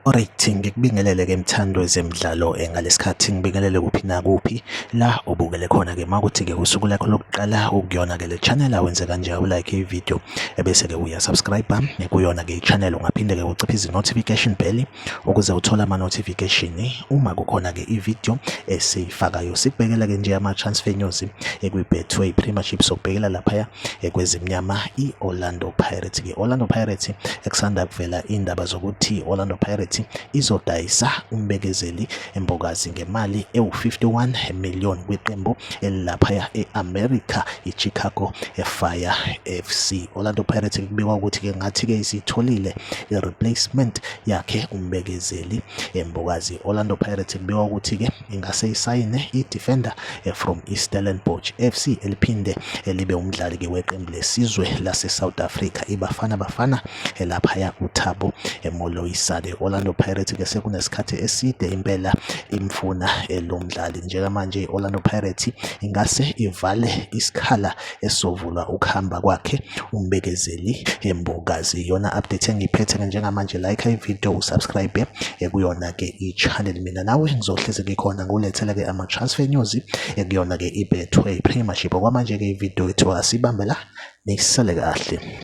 Alright, ngikubingelele ke mthando wezemidlalo eh, ngalesikhathi ngibingelele kuphi na kuphi la obukele khona ke makuthi ke usuku lakho lokuqala ukuyona ke le channel awenze kanje u like i video ebese ke uya subscribe eh, kuyona ke i channel ungaphinde ke uciphe izi notification bell ukuze uthole ama-notification uma kukhona-ke i-video esiyifakayo sikubhekela-ke nje ama-transfer news ekwi-betway premiership sokubhekela laphaya kwezimnyama i-orlando pirates ke orlando pirates ekusanda kuvela iy'ndaba zokuthi orlando pirates izodayisa umbekezeli Imbokazi ngemali ewu-51 million kwiqembu elilaphaya e-America i-Chicago Fire FC. Orlando Pirates kubikwa ukuthi ke ngathi-ke isitholile i-replacement yakhe umbekezeli Mbokazi. Orlando Pirates kubikwa ukuthi-ke ingase isayine i-defender eh, from i-Stellenbosch FC eliphinde elibe umdlali-ke weqembu lesizwe lase-South Africa iBafana Bafana elaphaya uThabo Moloisane. Orlando Pirates ke sekunesikhathi eside impela imfuna lo mdlali. Njengamanje i-Orlando Pirates ingase ivale isikhala esizovulwa ukuhamba kwakhe umbekezeli Mbokazi. Iyona update engiyiphethe ke njengamanje like ivideo usubscribe ekuyona ke i-channel mina nawe ngizohlezi ngikhona ngulethele ke ama-transfer news ekuyona ke ibethwe i-premiership okwamanje ke ivideo ethiwa asibambe la Nisale kahle.